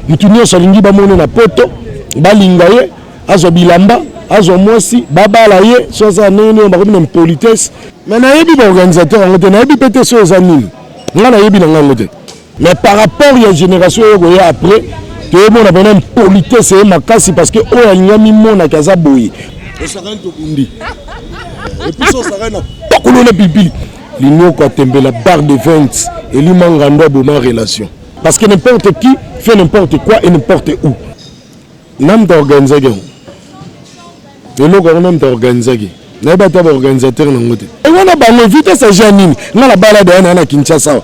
mutu nyonso alingi bamone na poto balinga ye azwa bilamba azwa mwasi babala ye so aza ndenge nini bakomi na impolitesse mais nayebi baorganisateur yango te nayebi mpe te so eza nini ngai nayebi na ngango te mais par rapport ya génération oyo koya après toyemona mpena impolitesse ye makasi parce que oyo alingi amimonaki aza boye osakani tobundi epusi osakani na pakolo na pilipili linioko atembela bar de 20 elimangando aboma relation Parce que n'importe qui fait n'importe quoi et n'importe où. Namta organisaki yango. Eloko yango namta organisaki. Nayebi ata ba organisateur nango te. E wana bango vitesse ya ja nini? Nga na bala da yana na Kinshasa awa.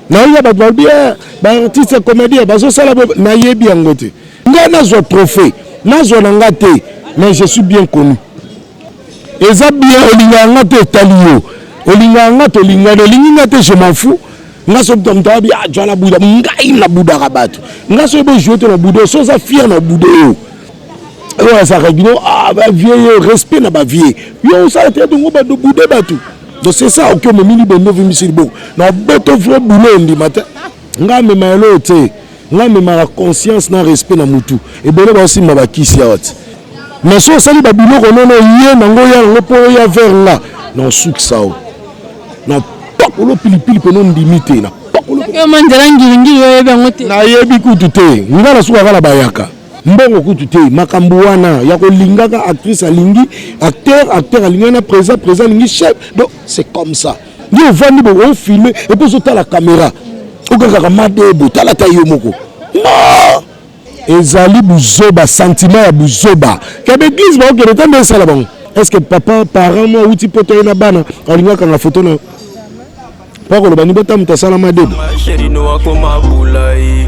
Nayebi bato balobi eh, ba artiste ya comédien bazosala nayebi yango te. Nga nazwa trophée, nazwa na nga te, mais je suis bien connu. Eza bien olingaka nga te etali yo. Olingaka nga te olingani, olingi nga te je m'en fous. nga soki moto moto abi ajwa na buda ngai na budaka bato nga soki bojoue te na buda so oza fier na buda yo oyo azalaka bino ah, bavie yo respect na bavie yo osala te dongo bato bude bato donc c'est ça oki omemi libende ovimbisi liboko na boto vrai boulot ondima te nga amema eloo te Nga memaka conscience na respect na mutu. Ebele ba osimba ba kisi awa ti. Mais so osali ba biloko nono ye na ngo ya ngo po ya vers nga. Na osukisa o. Na pakolo pilipili pe no ndimi te. Na pakolo. Seke ma nzela ngiri ngiri oyebi yango te. Na yebi kutu te. Nga na suka kala bayaka. Mbongo kutu te. Makambo wana ya ko lingaka actrice alingi acteur acteur alingi na presa presa alingi chef. Donc c'est comme ça. nde ovandi bo ofilme epo ozotala kamera okakaka madebo tala ta yo moko ma ezali buzoba sentiment ya buzoba ya baeglise baokende te nde esala bango est-ce que papa parent mwa awuti poto ye na bana alingi akanga foto na yo mpo akoloba ni bota moto asala madebo akoma bulai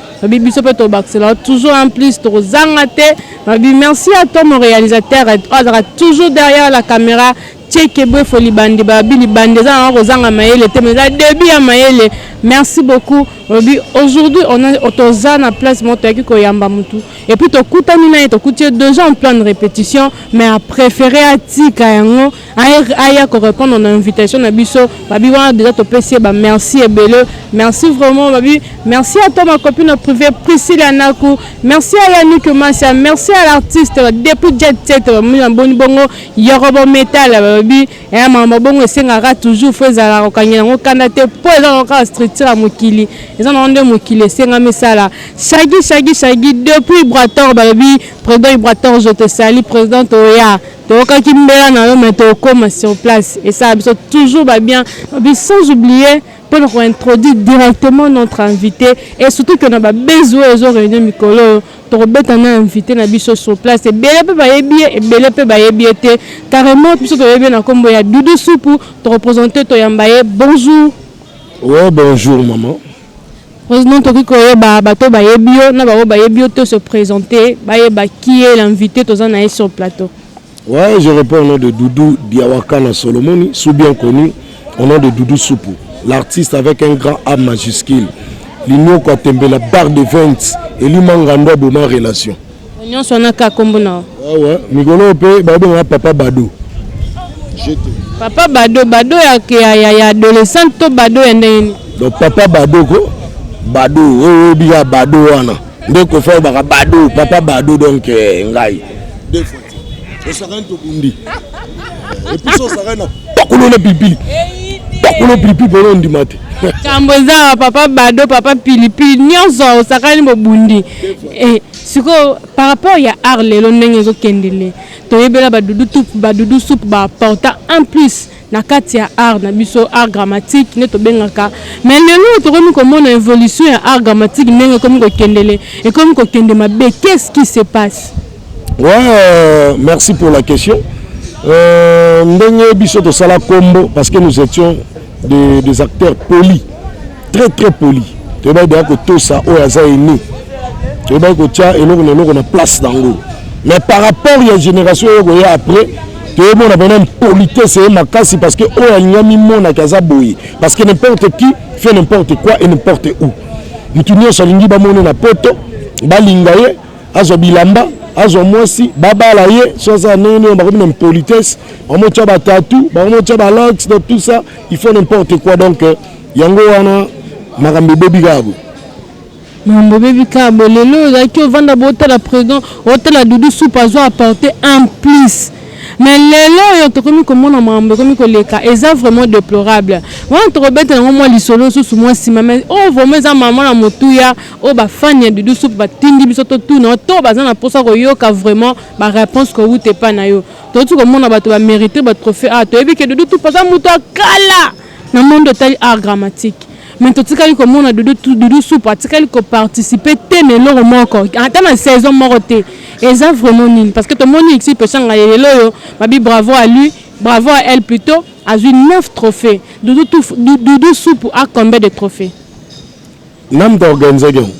Babi biso pe tobakisela toujours un plus tokozanga te. Babi merci à toi mon réalisateur azaka toujours derrière la caméra Tcheke Bwefo libandi Babi libandi eza na kozanga mayele te mais eza début ya mayele. Merci beaucoup. Babi aujourd'hui on a toza na place moto yaki koyamba mutu et puis tokutani naye tokuti ye déjà en plan de répétition mais a préféré atika yango aya ko répondre na invitation na biso babi wana déjà topesi ye ba merci ebele merci vraiment babi merci à toi ma copine privée Priscilla Naku merci à Yannick Masia merci à l'artiste depuis Jet Set bamoni na boni bongo Yorobo Metal babi ya mama bongo esengaka toujours fo ezalaka kokangela yango kanda te mpo eza na kaka structure ya mokili eza na nde mokili esengami esala shagi shagi shagi depuis Brator babi président Brator je te sali président oya Toyokaki mbela na yo mais tokoma sur place esala biso toujours ba bien sans oublier mpo na ko introduire directement notre invité et surtout que na ba base oyo ezo réunir mikolo oyo tokobeta na invité na biso sur place ebele mpe bayebi ye ebele mpe bayebi ye te carrément biso toyebi ye na nkombo ya Doudou Supu tokopresente toyamba ye bonjour oui bonjour maman President tokoki koyeba bato oyo bayebi yo na baoyo bayebi yo te se presenter bayeba qui est l'invite toza na ye sur plateau. Ouais, je réponds au nom de Doudou Diawakana Solomoni, sous bien connu au nom de Doudou Soupou, l'artiste avec un grand A majuscule. L'union Kwatembela, bar de vente, et lui Mangando aboma relation. Nyonso wana ka kombo na yo. Awa ah mikolo pe ba benga papa Bado. Jete. Papa Bado, Bado ya ya ya, ya adolescente to Bado ya ndenge nini? Donc papa Bado ko Bado oyo obi ya Bado wana. Nde ko fa baka Bado, papa Bado donc eh, ngai. Deux fois. Osakani to bundi. Et puis ça osakani na pakolo na pipi. Pakolo pipi pe on dimate. Kambo eza papa Bado, papa Pilipili, nyonso osakani bobundi. Eh, sikoyo par rapport ya art lelo ndenge ezokende le toyebela badudu tup badudu sup baaporta en plus na kati ya art na biso art grammatique nde tobengaka mais lelo tokomi komona évolution ya art grammatique ndenge ekomi kokendele ekomi kokende mabe qu'est-ce qui se passe ouais, euh, merci pour la question euh, ndenge biso tosala kombo parce que nous étions des, des acteurs polis très très poli toyebaki deya kotosa oyo aza ene toyebaki kotya eloko na eloko na place nango mais par rapport ya génération oyo koya après toyemona mpena impolitesse ye makasi parce que oyo alingi amimonaki aza boye parce que n'importe qui fait n'importe quoi et n'importe où motu nyonso alingi bamone na poto balinga ye azwa bilamba azwa mwasi babala ye so aza ndenge nini bakomi na impolitesse bamotya batatu bamotya balox donc tout ça il faut n'importe quoi donc euh, Yango wana makambo ebebi kaka boye. Mambo ebebi kaka boye. Lelo ozalaki ovanda botala president, otala Doudou Soupe azo apporter un plus. Mais lelo oyo tokomi komona makambo ekomi koleka eza vraiment deplorable. Wana tokobetela yango mwa lisolo susu mwa nsima mais oyo vraiment eza mama na motuya oyo ba fan ya Doudou Soupe batindi biso totuna yo to baza na mposa koyoka vraiment ba réponse kowuta epai na yo. Touti komona bato ba meriter ba trophee awa toyebi ke Doudou Soupe aza moto ya kala. na monde etali art dramatique mais totikali komona dodo dodo soupe atikali koparticipe te na eloko moko ata na saison moko te eza vraiment nini parce que tomoni exil peshanga ya lelo oyo babi bravo à lui bravo à elle plutôt azwi 9 trophées dodo, touf, dodo soupe a combien de trophées name toorganisaki yango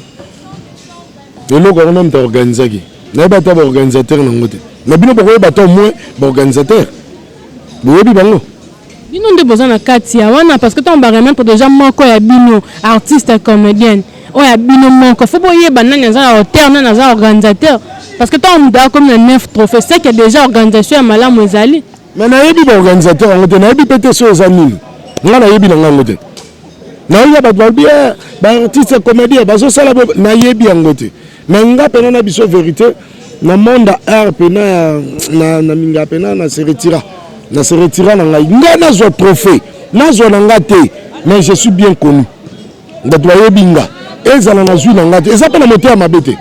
eloko yango name toorganisaki nayebi ata baorganisateur nango te na bino bokoyeba to moins baorganisateur boyebi bango Bino nde boza na kati ya wana parce que tango ba remettre dejà moko ya bino artiste comedienne oyo ya bino moko faut boyeba nani aza na hauteur nani aza organisateur parce que tango moto akomi na 9 trophées c'est que dejà organisation ya malamu ezali mais nayebi ba organisateur yango te nayebi pe te soki eza nini nga nayebi na nga yango te nayebi ya bato balobi ba artiste comedien bazosala nayebi yango te Mais nga pena na biso verite na monde art pena ya na, na minga pena na se retira na se retira na ngai nga nazwa trophée nazwa na nga te mais je suis bien connu bato bayebi nga ezala nazwi na nga te eza mpe na motema mabe te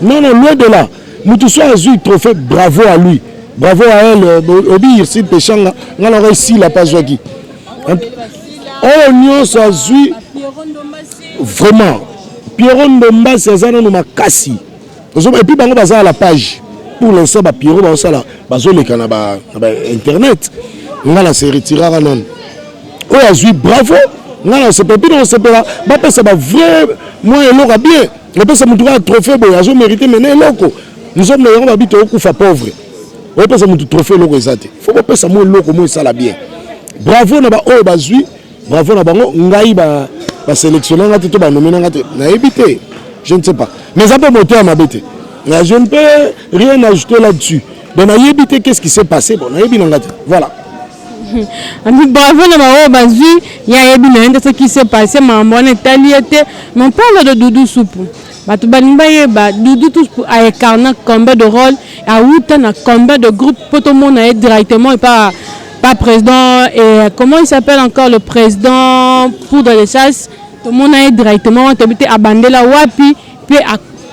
non non loin de là moto so azwi trophée bravo à lui bravo à elle euh, obi irsid peshanga nga na ngai sila mpe azwaki oyo nyonso azwi Vraiment Pierrot Ndombasi aza nanu makasi et puis bango baza à la page pour l'instant ba Pierrot bazosala bazoleka na ba, na ba internet nga na se retiraka nanu oyo azwi bravo nga na sepela mpe nakosepela bapesa ba vrai mwa eloko ya bien opesa motu kaka trophée boye azo mérite mena eloko nzombo yango babi tokokufa pauvre opesa motu trophée eloko eza te fo bopesa mwa eloko mwa esala bien bravo na baoyo bazwi Bravo na bango ngai ba ba selectionner ngate to ba nominer ngate na yebi te je ne sais pas mais ça peut monter à ma bête je ne peux rien ajouter là-dessus donc na yebi te qu'est-ce qui s'est passé bon na yebi na ngate voilà ami bravo na baoyo bazwi ye ayebi na ye nde soki se passe makambo wana etali ye te mais parle de dudu supu Bato balingi bayeba Doudou tous pour a incarna combien de rôle awuta na combien de groupe mpo tomona ye directement epa pa président et comment il s'appelle encore le président poudre de chasse tomona ye directement wana toyebi te abandela wapi mpe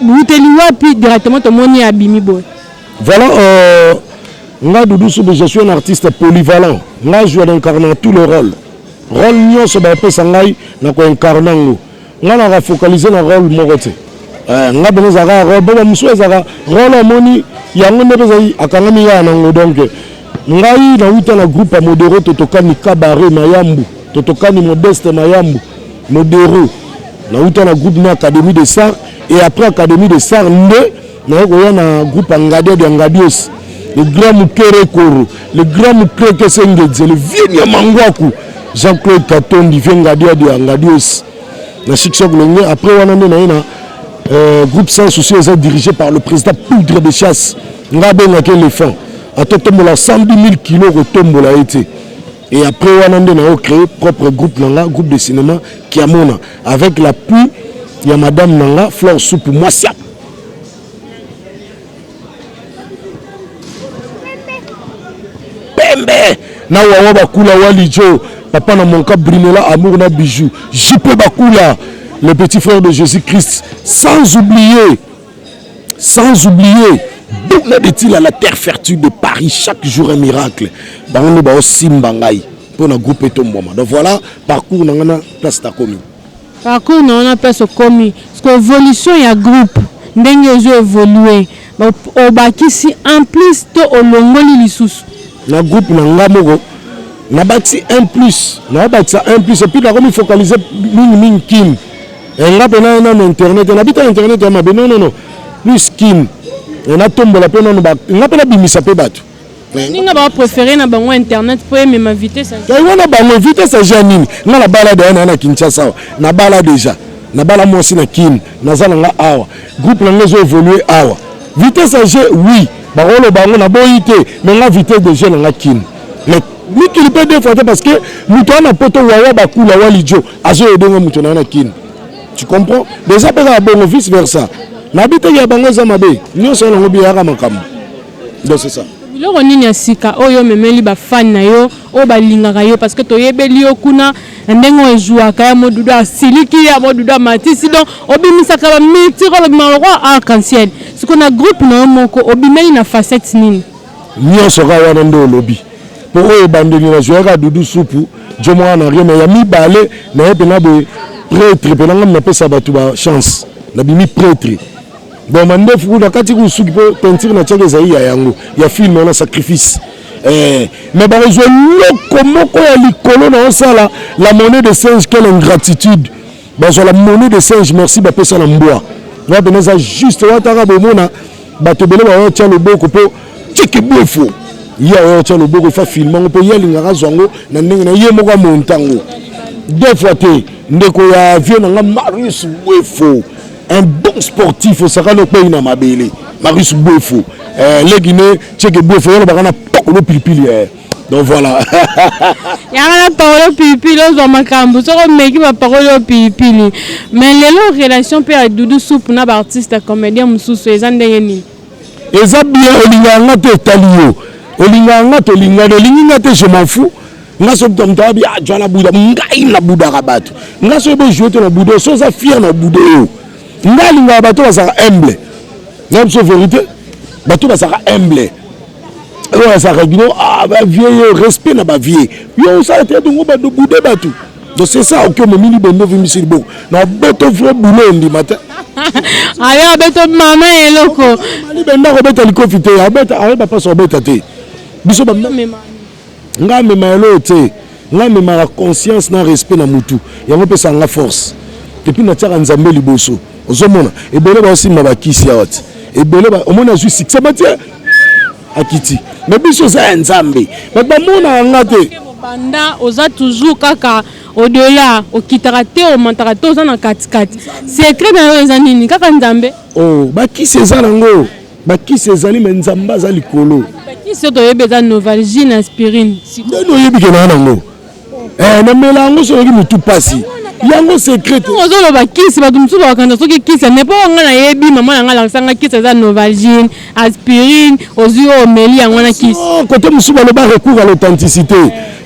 awuteli wapi directement tomoni ye abimi boye voilà euh, nga Doudou Soube je suis un artiste polyvalent nga azwa na incarna tous les rôles rôle nyonso bapesa ngai na koincarna yango nga na ka focaliser na role moko te eh, nga bene ezalaka ya role bo bamosusu ezalaka role amoni yango nde mpenza akangami yaya nango donc ngai nawuta na groupe ya modero totokani kabare mayambu totokani modeste mayambu modero nawuta na groupe na académie de sar et après académie de sar nde naye koya na groupe ya ngadia dia ngadios le grand mukere koro le grand mukreke sengedze le vieux niamangwaku jean claude katondi vieux ngadia dia ngadios na succès kolonge après wana nde naye na euh, groupe sans souci eza dirigé par le président poudre de chasse nga abengaki éléphant atotombola 110 000 kilo kotombola ye te et après wana nde nayo créé propre groupe na nga groupe de cinéma kiamona avec l'appui ya madame na nga flore soupe mwasi ya pembe na wawa bakula walijo papa na monka brinola amour na bijou jipe bakula le petit frère de jésus christ sans oublier sans oublier buna de tila la terre fertile de paris chaque jour un miracle bango nde baosimba ngai mpo na groupe etombwama donc voilà parcours na ngai na place nakomi Parcours na yo na place okomi sikoyo evolution ya groupe ndenge ezo evolue obakisi un plus to olongoli lisusu? Na groupe na nga moko nabakisi un plus nao bakisa un plus epuis nakomi focalise mingi mingi kin eh, nga mpe naye nano internet nabi te internet ya mabe non non non plus kin eh, natombola mpe nano nga mpe nabimisa mpe bato Ninga ba préféré na bango internet po emema vitesse. Yango wana bango vitesse age ya nini? Nga na bala da yana na Kinshasa awa. Na bala déjà. Na bala mwasi na Kin. Naza na nga awa. Groupe na nga ezo évoluer awa. Vitesse age oui. Bakolo bango na boyi te. Mais nga vitesse de jeu na nga Kin. Mais mikili pe deux fois te parce que moto wana poto wawa bakula wali jo azo aider nga moto na yana Kin. Tu comprends? Déjà pe na bongo vice versa. Na bite ya bango eza mabe. Nyoso na ngo biyaka makambo. Donc c'est ça. biloko nini ya sika oyo omemeli bafani na yo oyo balingaka yo parce que toyebeli yo kuna na ndenge oyo ezuaka ya modudu asiliki ya modudu amatisi donc obimisaka bamitiro olobima lokola arc en ciel siko na groupe na yo moko obimeli na facette nini nyonso kaka wana nde olobi mpo oyo ebandeli nazuaka dudu supu jo mwana na rien ya mibale naye mpena boye pretre mpena ngami napesa bato bachance nabimi pretre bon mandefu kuna kati kuna suki mpo peinture na tiaki ezali ya yango ya film wana sacrifice eh, mais bakozwa eloko moko ya likolo na osala la monnaie de singe quelle ingratitude bazwa la monnaie de singe merci bapesa na mbwa wana pena eza juste wataka bomona bato ebele baotya loboko mpo tiki bwefo ye aotya loboko fa filme yango mpo ye alingaka azwa yango na ndenge na ye moko amontango deux fois te ndeko ya vieux na nga marius bwefo un bon sportif osakani okpei na mabele marius bwefo eh, leki ne cheke bwefo yolobaka na pokolo pilipili eh. donc voilà yanga na pakolo pilipili ozwa makambo soki omeki bapakoli oyo pilipili mais lelo relation mpe ya dudu soupe na baartiste ya comédien mosusu eza ndenge nini eza bien olingaka nga te etali yo olingaka nga tolingana olingi nga te je m'en fous nga soki to moto abi ah jwala buda ngai na budaka bato nga soki bojoue te na buda so oza fier na buda yo nga alingaka bato bazalaka humble na biso verité bato bazalaka humble oyo azalaka bino ah bavie yo respect na bavie yo osala te dongo bato bude bato donc c'est ça oki omemili bende ovimbisi liboko na boto vrai boulot ondima te ayo abeto mama eloko libenda kobeta likofi te abeta ayeba mpasi obeta te biso bamema Nga amema ya loyo tse nga amemaka conscience na respect na mutu yango epesaka nga force epuis na tiaka nzambe liboso ozo mona ebele bazo simba ba kisi awa tse ebele ba omoni azui succès ba tse akiti mais biso eza ya nzambe bato ba monaka nga te banda oza toujours kaka odela okitaka te omantaka te oza na katikati secret na yo eza nini kaka nzambe oh ba kisi eza na ngo bakisi ezali me nzambe aza likolo bakisi oyo toyebi eza novalgie na aspirine nani oyebi ke naa nango eh, namela yango soki motu mpasi yango secret ozoloba kisi bato mosusu bakanisa soki kisi ane mpo ngai nayebi mama na ngai alakisa ngai kisi eza novalgine aspirine ozwi oyo omeli yango wana kisi kote mosusu baloba recours à l'authenticité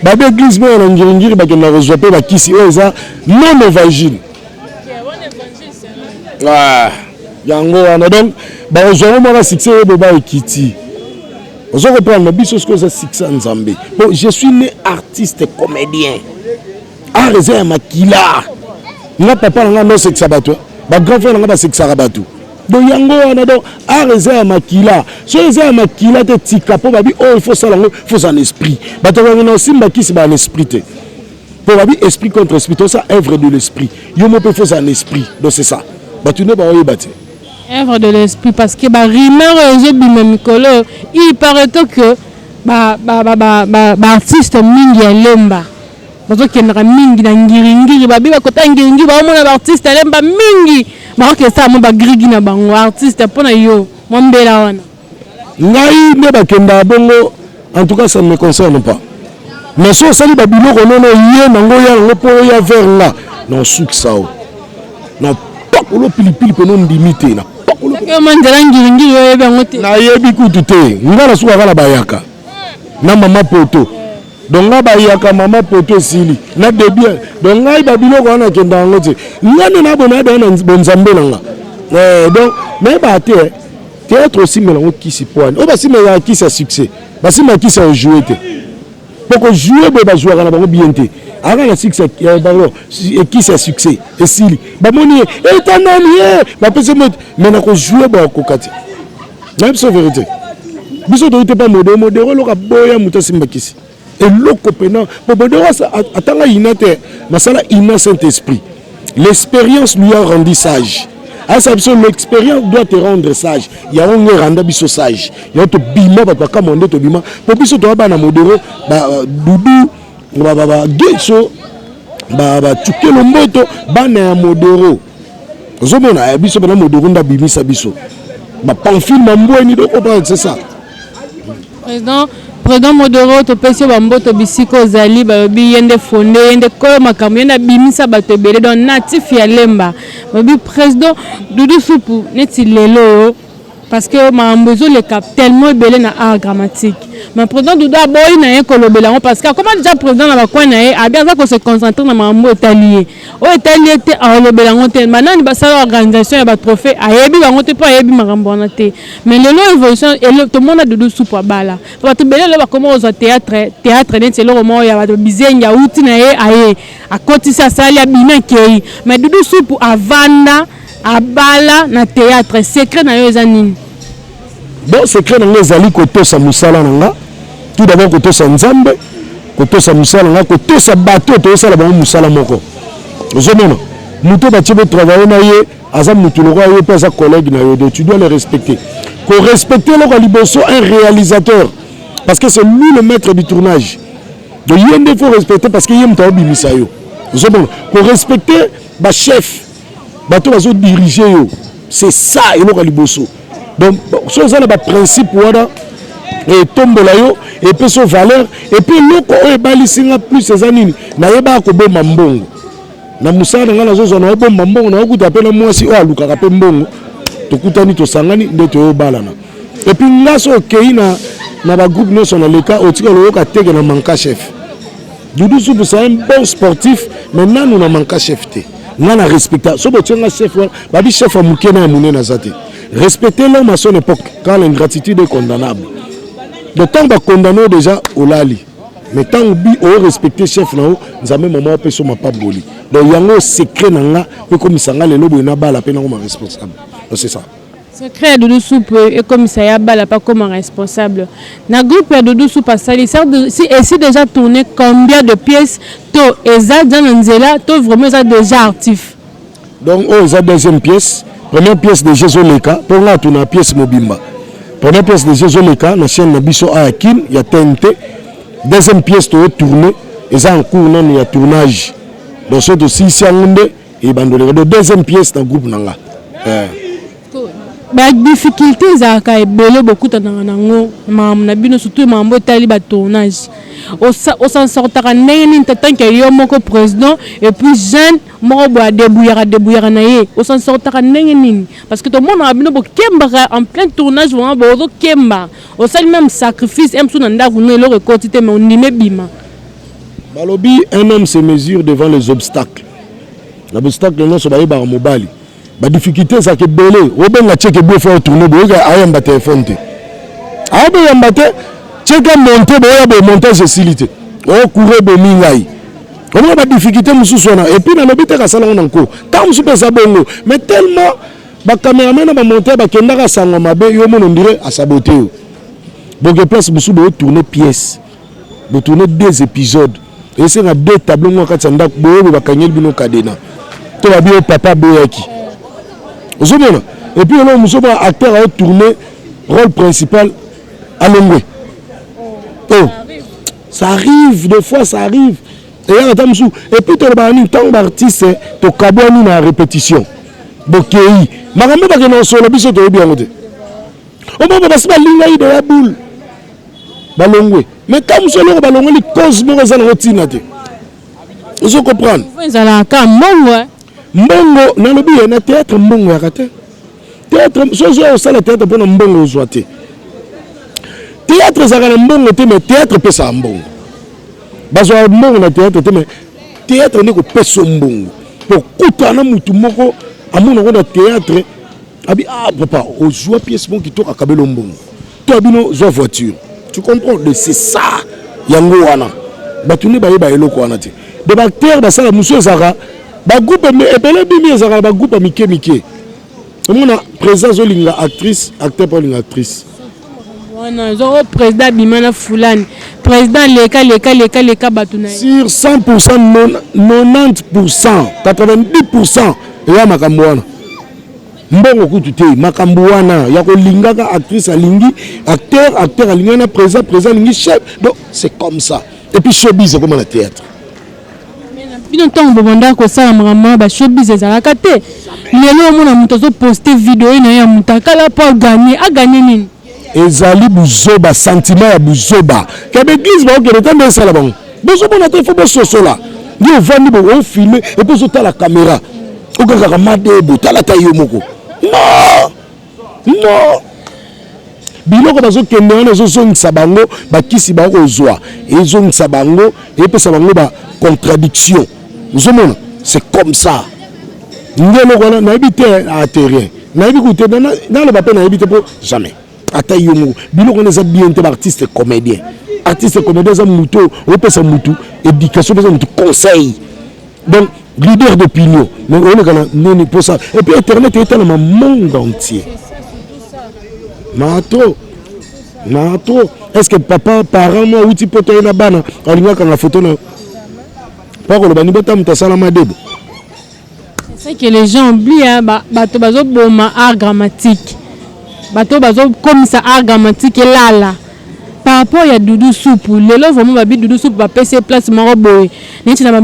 babe église moko na ngiringiri bakenda kozwa mpe bakisi oyo eza non novalgine ah, yango wana donc bakozwa ngo mwana succès ye boba ekiti ozo comprendre na biso soki oza succès ya nzambe bon je suis né artiste comédien art eza ya makila nga papa na nga nosekisa bato bagrand frère na nga basekisaka bato donc yango wana donc art eza ya makila soki eza ya makila te tika mpo babi oyo oh, ifo osala yango fo oza na esprit bato bakende na osimba kisi baa na esprit te po babi esprit contre esprit to ça œuvre de l'esprit yo mo pe faut un esprit donc c'est ça batu ne ba oyeba te œuvre de l'esprit parce que ba rumeur ezo bima mikolo il paraît que ba ba ba ba, ba, ba artiste mingi ya lemba bazokendaka mingi na ngiringiri babi bakota ngiringiri baomona baartiste alemba mingi bakokesala mwa bagrigi na bango artiste mpo na yo mwa mbela wana ngai nde bakenda bongo en tout cas ça ne me concerne pas mais so osali ba biloko nono ye nango ya nango mpo oya vers nga na osukisa o na pakolo pilipili mpe nondimi te na pakolo nzela ngilingili oyebi yango te nayebi kutu te nga nasukaka na bayaka na mama poto donc nga bayaka mama poto esili na debi donc ngai babiloko wana nakenda yango te nga nde nabonayada na bonzambe na nga eh, donc nayebaka te Theatre osimbela ngo kisi poani. Oyo basimbela kisi ya succès. Basimbela kisi ya jouer te. Poko jouer boye bazuaka na bango bien te. Aka na succès ya bango kisi ya succès esili. Bamoni eta nani ye. Bapese mo mais na ko jouer ba kokati. Na biso verite. Biso toyite pa modero modero loka boya mutu asimba kisi. eloko pena bobodewasa atanga ina te masala ina saint esprit l'expérience lui a rendu sage ayesa biso l'expérience doit te rendre sage yango ngo eranda biso sage yango tobima bato bakamwa nde tobima mpo biso toya bana modero badudu bageso batukelo mboto bana ya modero ozomona ya biso bana modokunda abimisa biso bapamfile mambweni dokopa c'est ça président président modoro topesi yo bamboto bisika ozali balobi ye nde fonde ye nde kolo makambo ye nde abimisa bato ebele donc natif ya lemba balobi président dudu supu neti lelo oyo Parce que makambo ezo leka tellement ebele na art dramatique. Mais president Doudou aboyi na ye kolobela yango parce que akoma dejà president na ba coin na ye, abi aza ko se concentrer na makambo oyo etali ye. Oyo etali ye te akolobela yango te. Ba nani basala organisation ya ba trophees ayebi bango te po ayebi makambo wana te. Mais lelo evolution elo tomona Doudou supu abala. Po batu ebele lelo bakoma kozua theatre theatre neti eloko moko ya batu bizengi awuti na ye aye akotisi asali abimi akeyi. Mais Doudou supu avanda. Abala na theatre secret na yo eza nini? Bon secret na nga ezali kotosa mosala na nga tout d'abord kotosa Nzambe kotosa mosala na nga kotosa bato toyosala bango mosala moko ozomona moto batie bo travaille na ye aza mutu lokola yo mpe aza collègue na yo donc tu dois le respecter korespecte eloko ya liboso un réalisateur parce que c'est lui le maître du tournage donc ye nde faut respecter parce que ye moto aobimisa yo ozomona korespecte bachef bato bazo dirige yo c'est ça eloko ya liboso donc so oza na baprincipe wana etombola yo epesi yo valeur epuis eloko oyo ebalisi nga plus eza nini nayebaka kobomba mbongo na mosala na ngai nazozwa na obomba mbongo naokuta mpe na mwasi oyo alukaka mpe mbongo tokutani tosangani nde toyobalana epuis nga so okei na na bagroupe nyonso na leta otika loyoka teke na manka chef Doudou Soupe c'est un bon sportif mais nanu na manka chef te nga na respecta so botie nga chef wana babi chef ya moke na ya monene aza te respecter l'homme à son époque quand l'ingratitude est condamnable donc ntango bakondamne yo déjà olali mais ntango bi oyo respecte chef na yo nzambe mama apesa yo mapaboli donc yango secret na nga mpe ekomisa nga lelo boye nabala mpe nakoma responsable donc c'est ça Secret ya Doudou Soupe ekomisa ya bala pa koma responsable na groupe ya Doudou Soupe asali si et si déjà tourné combien de pièces to eza déjà na nzela to vraiment eza déjà artif donc oyo oh, eza deuxième pièce première pièce de Jésus leka mpo ngai atuna pièce mobimba première pièce de Jésus leka na chaîne na biso aya kin ya tnt deuxième pièce toyo tourne eza en cours nanu ya tournage donc soki tosilisi yango nde Et bandoleka de deuxième pièce na groupe na nga. Eh. Ba difficultés ezalaka ebele bokutanaka nango makambo na bino surtout makambo etali ba tournage osan sortaka ndenge nini tant que yo moko président et puis jeune moko boya debouyaka debouyaka na ye osan sortaka ndenge nini parce que tomonaka bino bokembaka en plein tournage vraiment bozokemba osali même sacrifice em so na ndako no eloko ekoti te mais ondimi ebima balobi un homme se mesure devant les obstacles na bostakle nyonso bayebaka mobali badifficulte ezalaka ebele obenga cheke biofa ya tourne boyoka ayamba telefone te aoboyamba te cheke monte boya boye montage esili te okure bomi ngai omona badifficulte mosusu wana epuis nalobi te kasala yango na nko ntango mosusu mpe eza bongo mais tellement bacameraman na bamonteur bakendaka sango mabe yo omona ondire asabote yo boke place mosusu boyo tourne pièce bo tourner deux episodes esenga deux tableau moko kati ya ndako boyebe bakangeli bino kadena to babi yo papa aboyaki ozomona epuis eloko mosusu mwa acteur ao tourne rôle principal alongwe o oh. ça arrive des fois ça arrive eyaka ata mosusu epuis tolobaka nini ntango baartiste tokabwani na répétition bokei makambo bakenda kosolo biso toyebi yango te omama basi balingaki deya boule balongwe mais ka mosu eloko balongoli cause moko eza nango ntina te ozo comprendre ezalaka mbongo eh? mbongo nalobi ye na théâtre mbongo yaka te théâtre soki oyo osala théâtre mpona mbongo ozwa te théâtre ezalaka na mbongo te mais théâtre epesaka mbongo bazwaka mbongo na théâtre te mais théâtre nde kopesa mbongo kokutana na motu moko amonango na théâtre Abi ah papa ozua pièce moko kitoko akabelo mbongo to abino zua voiture tu comprends de c'est ça yango wana bato nde bayeba eloko wana te de baacteur basala mosusu ezalaka bagroupe ebele bimi ezalaka na bagroupe ya mike mike omona président azolinga actrice acteur mpe alinga actrice wana ozo oh, président abima na fulani président leka leka leka leka bato na sur 100 pourcent 90 pourcent 90 pourcent eya makambo wana mbongo kutu te makambo wana ya kolingaka actrice alingi acteur acteur alingaki na président président alingi chef donc c'est comme ça et puis showbiz ekoma na théâtre bino ntango bobanda kosala makambo ya bashowbiz ezalaka te lelo omona moto azoposte video ye na ye ya motakala mpo aganye aganye nini ezali buzoba sentiment ya buzoba ya baeglise baokende te nde esala bango bozomona te fo bososola yo ovandi bo ofilme epo ozotala kamera okakaka madebo tala ta yo moko no no biloko bazokende wana ezozongisa bango bakisi bakozwa ezongisa bango epesa bango bacontradiction ozomona c'est comme ça nde eloko wana nayebi te aterien nayebi kute naloba mpe nayebi te mpo jamais ata yo moko biloko wana eza bien te baartiste comédien artiste comédien eza motu oyo opesa motu éducation opesa motu conseil donc leader d'opinion donc oleka na nini mposa epuis internet etalama monde entier mato mato est ce que papa parent mo awuti poto ye na bana alingaka na foto na yo mpo akoloba ni bota moto asala madede ce que les gens oublient bato bazoboma art grammatique bato bazokomisa art grammatique elala par rapport ya dudu supu lelo vraimen babi dudu supu bapesi ye place moko boye neti na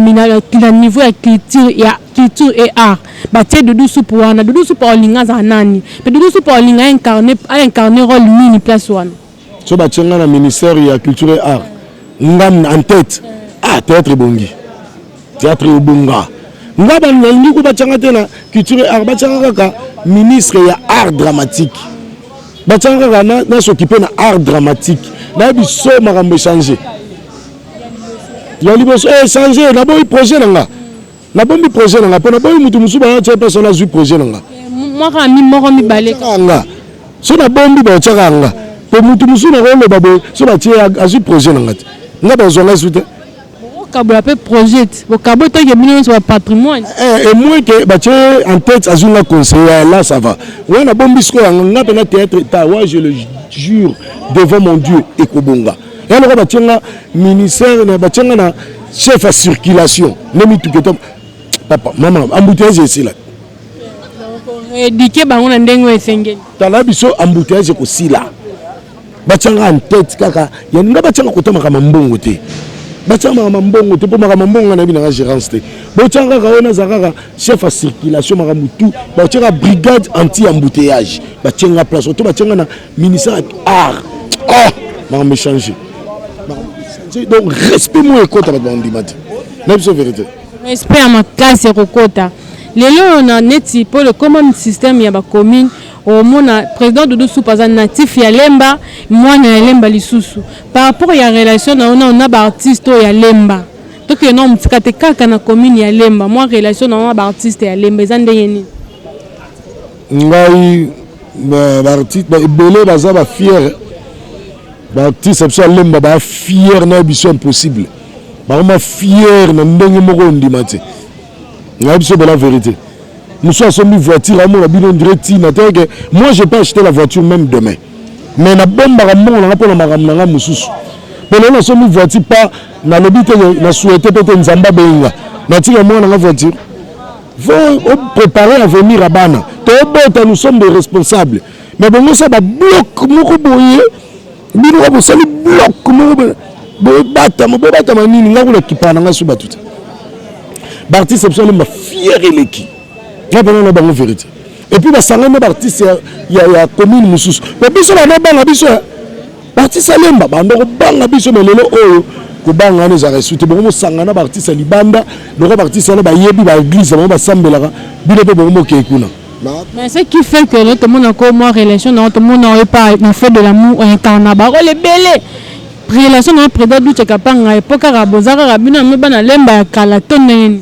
niveau ya culture ya culture et art batie dudu supu wana dudu supu aolinga azala nani mpe dudu supu aolinga aincarne role nini place wana so batie ngai na ministère ya culture et art nga en tête ah théâtre ebongi théâtre ebonga nga nalingi ko batianga te na culture et art batianga kaka ministre ya art dramatique batianga kaka nasokipe na art dramatique nayebi so makambo echange ya liboso echange naboyi projet na nga Na bombi projet na nga pona boyi mutu mususu ba tia pesa na zui projet na nga. Mwaka mi moko mi bale ka nga. So na bombi ba tia ka nga. Po mutu mususu na ko loba boyi so ba tia azui projet na nga te. Nga ba zwa nga su te. Bokabola pe projet. Bokabo to ke bino nso ba patrimoine. Eh, et moi que ba tia en tête azui nga conseiller là ça va. Wana bombi siko nga pe na théâtre ta wa je le jure devant mon Dieu ekobonga. ya lokola batie nga ministère na batie nga na chef ya circulation nde mituka eto papa mama embouteillage esila edike bango na ndenge oyo esengeli tala biso embouteillage ekosila batyanga antete kaka ya nga batyanga kota makambo mbongo te batyanga makambo mbongo te mpo makambo mbongo nga nayebi nanga gérance te botyanga kaka oyo naza kaka chef ya circulation makambo tu batyaka brigade anti embouteillage batyanga place oto batyanga na ministère art oh makambo echange donc respect moi ekota bato bandima te na biso verité respect ya makasi ekokota lelo oyo na neti mpo lekoma système ya bacommune omona président doudou soupe aza natif ya lemba mwana ya lemba lisusu par rapport ya relation na yo nao na baartiste oyo ya lemba tokende nao motika te kaka na commune ya lemba mwa relation na yo na baartiste ya lemba eza ndenge nini ngai baartiste ba ebele baza ba fiere baartiste biso alemba baa fiere na biso impossible bakoma fiere na ndenge moko ondima te ngai biso bela verité mosusu asombi voiture amona bino ndire ntina te ke moi je peux acheter la voiture même demain mais nabombaka mbongo nanga mpo na makambo na ngai mosusu mpo lelo nasombi voiture pa nalobi te na souhaite mpe te nzambe abenga natika mwana nanga voiture faut préparer à vomir à bana tobota nous sommes des responsables mais bongo sa ba bloc moko boye bino ka bosali bloc moko bobatama bobatama nini ngai kuna kipaa na ngai so bato te baartiste biso alemba fiere eleki ngai mpena na bango verité epuis basangani na baartiste ya commune mosusu po biso bana banga biso Baartiste ya lemba banda kobanga biso me lelo oyo kobanga wana ezalaka esu te bongo mosangana baartiste ya libanda loko baartiste wana bayebi baeglise bango basambelaka bino mpe bongo mokei kuna Mais ce qui fait que notre monde encore moi relation dans notre monde n'aurait pas na fait de l'amour incarna ba role belé relation na préda du chakapanga epoka ka bozaka ka bino me bana lemba ya kala to nene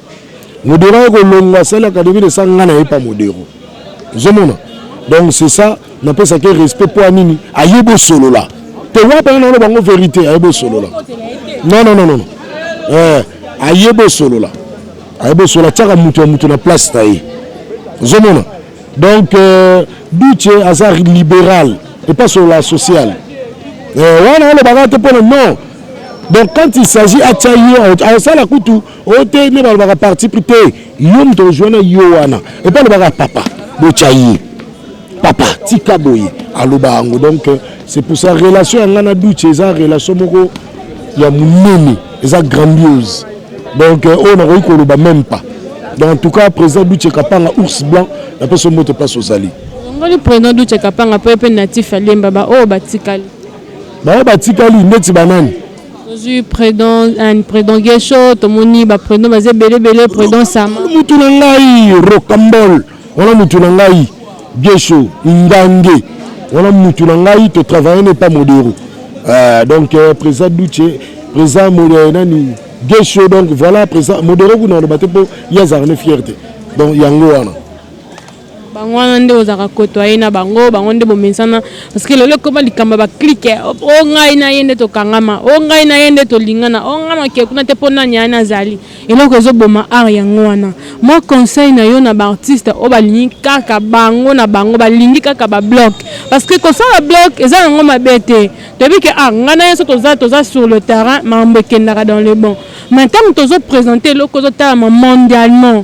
modero eko longwa sali académie de sa nga na ye pa modero ozomona donc c'est ça napesaki respect mpo ya nini aye bosolola te wapi anga naloba yango verité aye bosolola non non non non eh, aye bosolola aye bosolola atiaka moto ya moto na place na ye ozomona donc euh, duce aza libéral epa solola social eh, wana alobaka te mpona non donc quand il s'agit atya ye asala kutu oyo te nde balobaka parti pris te yo moto ozwi wana yo wana epa alobaka papa botya ye papa tika boye aloba yango donc c'est pour ça relation ya ngai na duce eza relation moko ya monene eza grandiose donc euh, oyo nakoki koloba même pas donc en tout cas président duce kapanga ours blanc napesa mbote place ozali ngoli président duce kapanga mpo ye mpe natif ya lemba baoyo batikali baoyo batikali ndeti banani Tozui predon un predon guesho tomoni ba predon baza ebele ebele predon sama. Mutu na ngai rocambol wana mutu na ngai guesho ngange wana mutu na ngai to travailler ne pas modero euh, donc euh, président Duce président modero nani guesho donc voilà président modero kuna aloba te po yazarne fierté donc yango wana Bango wana nde ozalaka cotoyer na bango, bango nde bomesana parce que lelo ekoma likambo ya ba clique, o ngai na ye nde tokangama, o ngai na ye nde tolingana, o ngai nakee kuna te po nani aya nazali. Eloko ezo boma art yango wana. Moi conseil na yo na ba artistes oyo balingi kaka bango na bango, balingi kaka ba bloc parce que kosala bloc eza nango mabe te, toyebi ke ah ngai na ye soki toza toza sur le terrain makambo ekendaka dans le bon mais tango tozo presenter eloko ezo talama mondialement,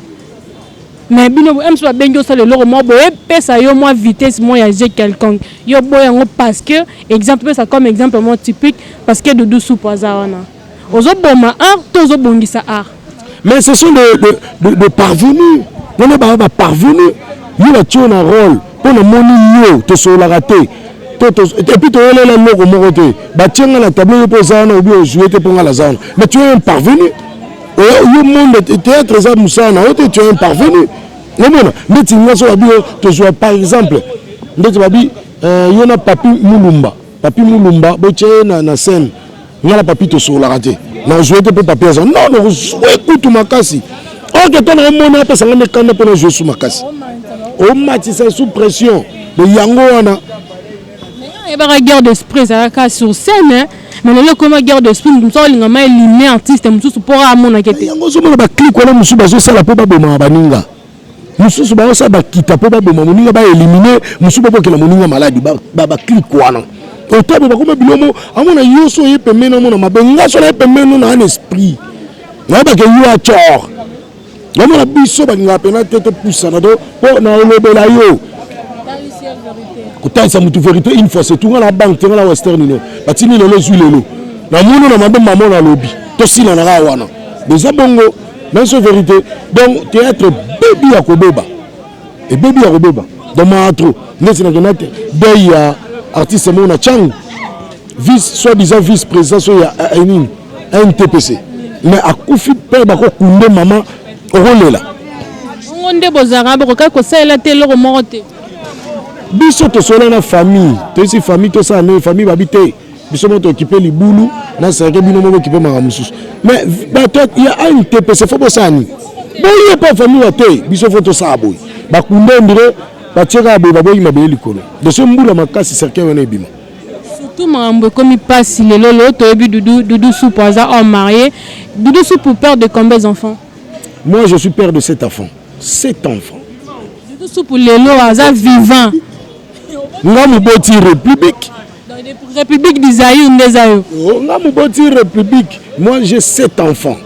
Mais bino bo MC ba bengi osala eloko moko boye pesa yo mwa vitesse mwa ya jeu quelconque yo boya yango parce que exemple pesa comme exemple moko typique parce que Doudou Soupu aza wana ozo boma art to ozo bongisa art mais ce sont des de, de, de parvenus wana ba ba parvenus yo ba tio na rôle po na moni yo to solaka te et puis toyelela eloko moko te batie nga na tableau yo mpo oza wana obi ozwi ete mpo nga naza wana mais tu es un parvenu yo monde théâtre eza mosala na yo te tu es un parvenu omona ndeti nyonso babi yo tozwa par exemple ndeti babi euh, yo na papi mulumba papi mulumba botya ye na, na scène nga na papi tosololaka te nazwa te mpo papi aza non nozwa ekutu makasi orke to naomona apesa nga mikanda mpo nazwa esu makasi omatisa sous pression de yango wana oyebaka guerre d'esprit ezalaka sur scène mais lelo ekoma guerre de spin moto mosusu akolinga ma elimine artiste mosusu mpo kaka amonaka ete yango ozomona baclike wana mosusu bazosala mpo babomaka baninga mosusu baosala bakita mpo baboma moninga baelimine mosusu babokela moninga maladi baclike wana otabo bakoma bilomo amona yo so oye pembeni amona mabe nga so naye pembeni no naa na esprit nayebaka yo acor Namona biso balingaka mpena te topusana to mpo na olobela yo kotalisa motu verité une fois c'est tout nga na banque te nga na western union batindi lelo ezwi lelo namoni na mabe mamo na lobi tosilana kaka wana eza bongo nanso verité donc théâtre bebi ya kobeba ebebi ya kobeba donc maa trop ndeti nakenda te dei ya artiste moko na cango vice soit disant vice président so ya eh, eh, nini ntpc mais akufi mpe bakokunde mama okolela bongo nde bozalaka bokokaki kosalela te eloko moko te biso tosola na famille toyesi famille tosala nini famille babi te biso moko tokipe libulu na serke bino moko bokipe makambo mosusu mais bato ya antpc fo bosala nini boye mpe famille ya te biso fo tosala boye bakunda ndire batiekaka boye baboyi mabele likolo de ce mbula makasi serke wana ebima Surtout makambo ekomi pasi lelo lelo toyebi doudou doudou supu aza homme marié doudou supu père de combien enfants moi je suis père de sept enfants sept enfants doudou supu lelo aza vivant nga moboti république république du zaïre nde eza yo oh, nga moboti république moi j'ai sept enfants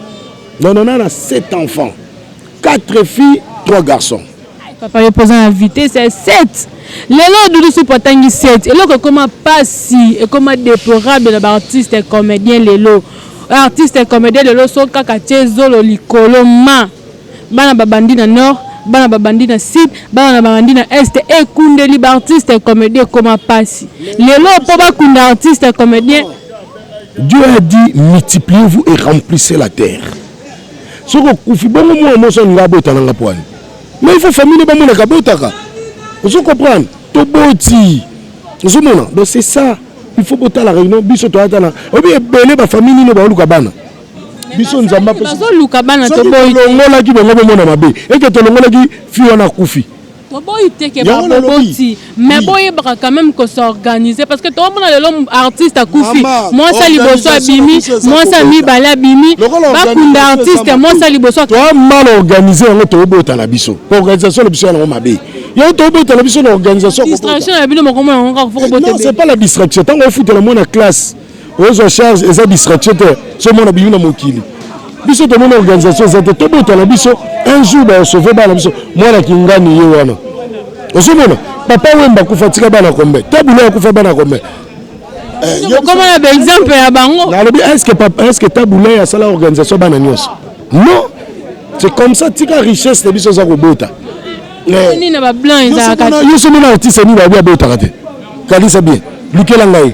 non non nana sept enfants 4 filles 3 garçons papa yo mpoza na vitesse ya 7 lelo dudu supu atangi 7 eloko ekoma pasi ekoma déplorable na baartiste comédien lelo artiste comédien lelo so kaka tie zolo likolo ma bana babandi na nord bana babandi na sud bana babandi na est ekundeli baartiste comédien ekoma pasi lelo mpo bakunda artiste comédien Dieu a dit multipliez-vous et remplissez la terre soki okufi bongo mwana mwasi alinga abota na nga pwani ma ifo famille ne bamonaka abotaka ozo comprendre toboti ozomona donc c'est ça il faut botala réunion biso toyata na oyebi ebele bafamille nino baoluka bana biso nzambe apesatolongolaki bango bomona mabe eke tolongolaki fi wana akufi Toboyi te ke ba boboti mais boyebaka quand même ko s'organiser parce que tomona lelo artiste akufi mwasi liboso abimi mwasi ya mibale abimi bakunda artiste mwasi ya liboso toa mal organiser yango tobota na biso po organisation na biso yango mabe yango tobota na biso na organisation distraction ya bino mokomona yango kaka foko bota non c'est pas la distraction ntango ofutela mwana classe ozwa charge eza distraction te so mona bimi na mokili biso tomoni organisation eza te tobota na biso un jour baosove bana biso mwana kingani ye wana ozomona papa wemba akufa tika bana kombe tabula akufa bana kombe eh, okoma na baexemple ya bango nalobi estce tabula asala organisation bana nyonso non c'est comme ça tika richesse na biso eza kobota nini na ba blanc ezalaka te yo somo na artiste nini ba botaka te kanisa bien lukela ngai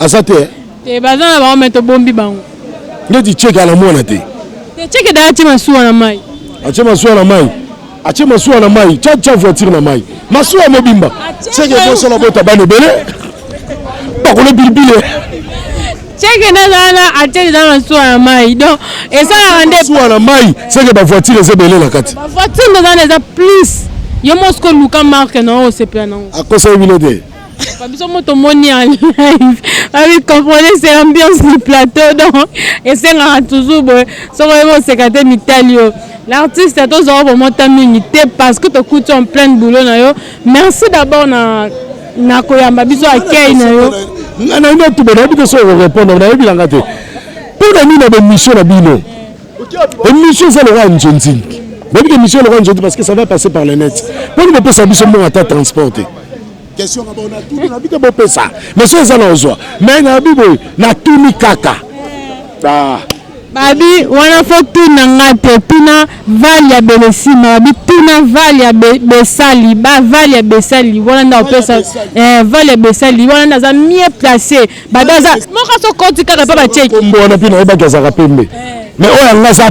aza te eh? te baza na bango me tobombi bango ndeti cheke ala mwana te te cheke da atie masuwa na mai atie masuwa na mai atie masuwa na mai cha cha voiture na mai masuwa mobimba cheke bosala bota bana ebele bakolo bilibile Seke na zala na atel eza na suwa na mai donc esalaka nde suwa na mai seke ba voiture eza ebele na kati ba voiture nde eza na eza plus yo moko siko luka marke na oyo osepela nango akosaki bino te biso mo tomoni ya live abi comprenez c'est l'ambiance du plateau donc esengaka toujours boye soko oyebi oseka te mitali yo l'artiste tozwa yo bomota mingi te parce que tokuti en pleine boulot na yo Merci d'abord na na koyamba biso accueil na yo. Nga na ino tuba nayebi te soki okorepondre nayebi na nga te mpo na nini na bemission na bino emission eza lokola nzonzing nayebi ke emission lokola nzonzing parce que ça va passer par le net mpo nini bopesa biso mbongo ata transport te question kaka ona tuni nabi te bopesa mais soki eza na ozwa mais nabi boye natuni kaka ah. Babi wana faut tuna nga te tuna val ya belesima babi tuna val ya be, besali ba val ya besali wana nda opesa eh, val ya besali wana nda aza mieux place babi aza moka so koti kaka pa bacheki kombo wana mpe nayebaki azalaka pembe eh. mais oyo yanga aza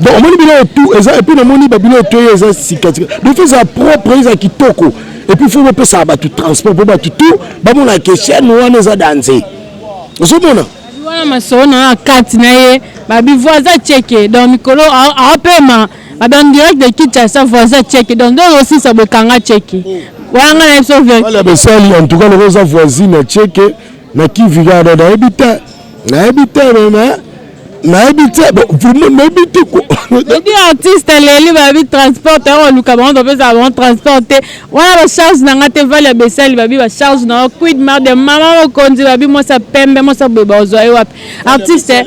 donc omoni bino oyo tout eza epuis namoni babino oyo toye eza sikatika donc fo eza propre eza kitoko epuis fo bopesaka bato transport mpo bato tout bamona ke chaine wana eza danze ozomona wana masolo na ya kati na ye babi voisin cheke donc mikolo aopema babi en direct de kinshasa voisin cheke donc nde ozosisa bokanga cheke wana ngai na biso verala besali en tout cas loko eza voisine ya cheke na kivigarda nayebi te nayebi te mais nayebi te vraiment nayebi te ebi artiste eleli babi transport yango baluka bango bapesa bango transport te wana bacharge na ngai te vale ya besali babi bacharge na yo quid mar de mama mokonzi babi mwasi ya pembe mwasi ya boye baozwa ye wapi artiste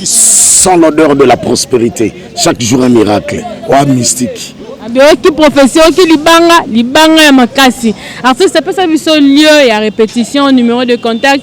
sans l'odeur de la prospérité chaque jour un miracle oa mystique abiyoki profesi oyoki libanga libanga ya makasi artiste apesa biso lieu ya répétition numéro de contact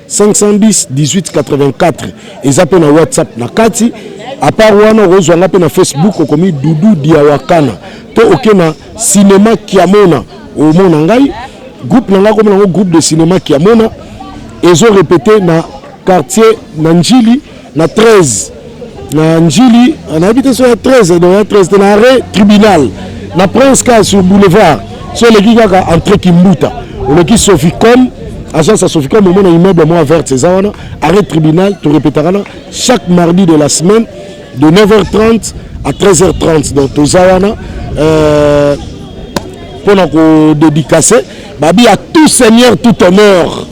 510 1884 eza mpe na whatsapp na kati apart wana okozwa nga mpe na facebook okomi dudu diawakana to oke na cinéma kiamona omona ngai groupe na ngai akomi nango groupe de cinéma kiamona ezo repete na quartier na njili na 13 na Ndjili, nayebi te soki ya 13 donc ya 13 te na arrêt tribunal na Prince Ka sur boulevard so eleki kaka entre Kimbuta oleki Soficom agence ya Soficom omona immeuble mwa verte eza wana arrêt tribunal torepetaka na chaque mardi de la semaine de 9h30 à 13h30 donc toza wana euh, mpo na kodedikase Babi à tout seigneur tout honneur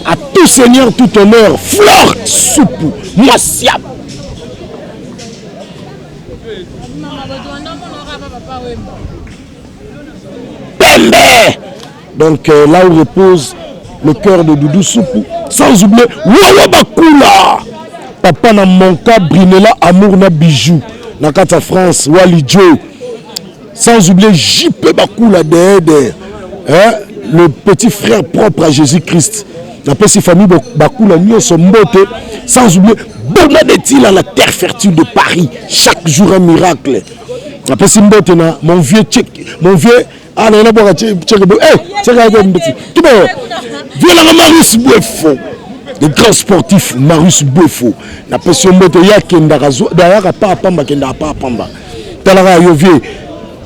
à tout seigneur tout honneur fleur supu mwasi ya pembe donc euh, là où repose le cœur de doudou supu sans oublier wowo bakula papa na monka brinela amour na bijou na kati ya france wali joe Sans oublier JP Bakula derrière derrière. Hein? Le petit frère propre à Jésus-Christ. Napesi famille Bakula Nyoso Mbote. Sans oublier Boma Betila, la terre fertile de Paris. Chaque jour un miracle. Napesi Mbote na mon vieux tchèque, mon vieux ah non, boka tchèque. Eh, tchèque a dit Tu vois, vieux la Marius Bouefo. Le grand sportif Marius Bouefo. Napesi Mbote yakendaka zo, dayaka pa pamba kendaka pa pamba. Talaka ya yo vieux.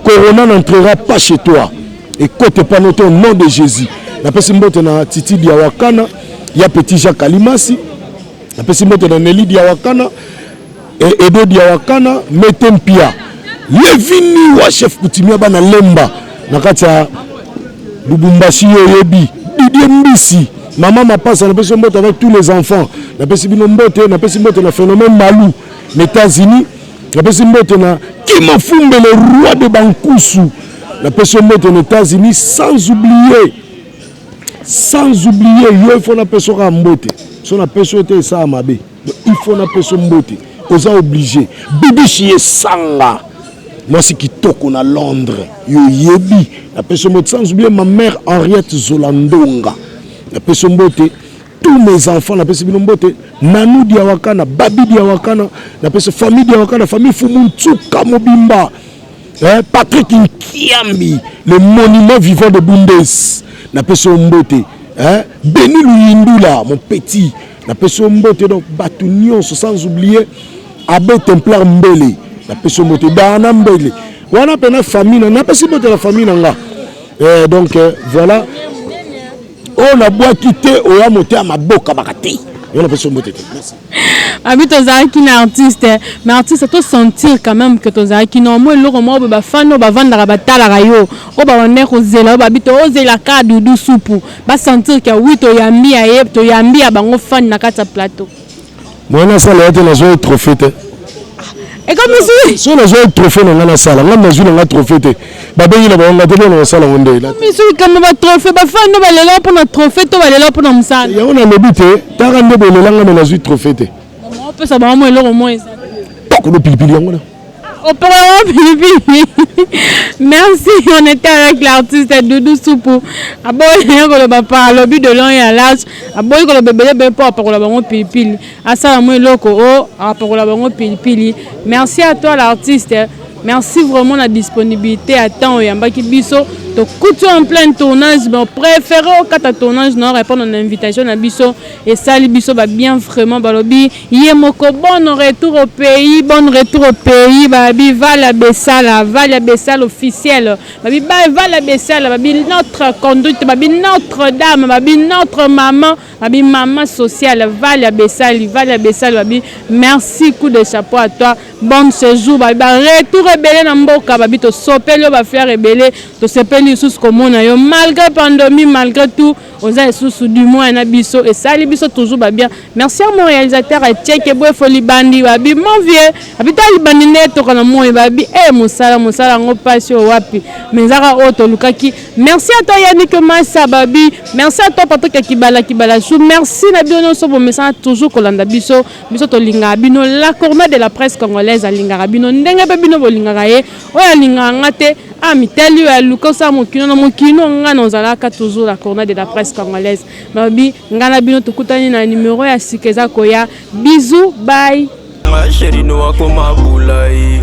Corona n'entrera pas chez toi. Ekote pas note au nom de Jésus. Napesi mbote na Titi Diawakana, ya Petit Jacques Alimasi. Napesi mbote na Nelly Diawakana, e, Edo Diawakana, Mete Mpia. Levini wa chef coutumier bana Lemba na kati ya Lubumbashi yo yebi. Didier Mbisi, Mama Mapasa, napesi mbote avec tous les enfants. Napesi bino mbote, napesi mbote na phénomène Malou, les États-Unis. Napesi mbote na Kimafumbe le roi de Bankusu. Napesi yo mbote na Etats-Unis sans oublier sans oublier yo ifo napesi yo kaka mbote so napesi yo te esala mabe ifo napesi yo mbote oza oblige bibishi esanga mwasi kitoko na londres yoyebi napesi yo mbote sans oublier ma mère henriette zolandonga napesi yo mbote tous mes enfants napesi bino mbote nanou diawakana babi diawakana napesi famille diawakana famille fumu nsuka mobimba eh, patrick nkiambi le monument vivant de bundes napesi yo mbote eh, beni luyindula mon petit napesi yo mbote donc bato nyonso sans oublier abe templar mbele napesi yo mbote dana mbele wana mpena famille napesi mbote na famille na nga eh, donc eh, voilà oyo nabwaki te oya moto ya maboka baka te yo napesi mbote te abi tozalaki na artiste mais artiste to sentir quand même que tozalaki no mwa eloko moko boye bafani oyo bavandaka batalaka yo oyo babandaki kozela oyo babi tozelaka dudu supu basentir ke wi toyambi ya ye toyambi ya bango fani na kati ya plateau moye nasala ya te nazwaki trophée te ekomisi soki nazwaki trophée na ngai nasala ngai nazwi na ngai trophée te babengi na bango ngai te mpona kosala yango nde misu likambo batrophée bafani no balela mpo na trophée to balela mpo na mosala yango nalobi te taka nde bolela ngai me nazwi trophée te opesa bango mo eloko mo eza kuna pilipili yango na Au programme pilipili. Merci, on était avec l'artiste Doudou Soupou. Aboyi koloba par lobi de long et à large. Aboyi koloba bébé bébé pour apakola bango pilipili. Asala mo eloko o apakola bango pilipili. Merci à toi l'artiste. Merci vraiment la disponibilité à temps et en baki biso. To kutu en plein tournage, bon préféré au kata tournage non répondre à l'invitation na biso et sali biso ba bien vraiment balobi Ye moko bonne retour au pays bonne retour au pays ba bi vala besala vala besala officiel ba bi ba vala besala ba bi notre conduite ba bi notre dame ba bi notre maman ba bi maman sociale vala besali vala besala ba bi merci coup de chapeau à toi bonne séjour ba ba retour ebele na mboka ba bi to sopeli yo ba fleurs ebele to sepeli lisusu komona yo malgre pandomi malgre tout oza lisusu du moins na biso esali biso toujours ba bien merci à mon réalisateur etieke bwefo libandi babi mon vieux abi ta libandi nde etoka na moi babi e eh, mosala mosala yango mpasi oyo wapi mais ezaka oyo tolukaki merci à toi yannick masa babi merci à toi patrik ya kibala kibala su merci na bino nyonso bomesana toujours kolanda biso biso tolingaka bino la corne de la presse congolaise alingaka bino ndenge mpe bino bolingaka ye Oyo alingaka nga te a mitali oyo aluka osala mokino na mokino nga na ozalaka toujours la corona de la presse congolaise nalobi nga na bino tokutani na numero ya sika eza koya bizu bai ma chérie no akoma bulai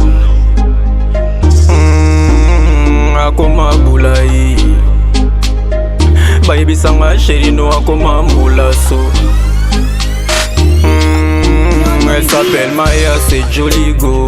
mm, akoma bulai bayebisa nga chérie no akoma mbulaso mm, elle s'appelle Maya c'est Joligo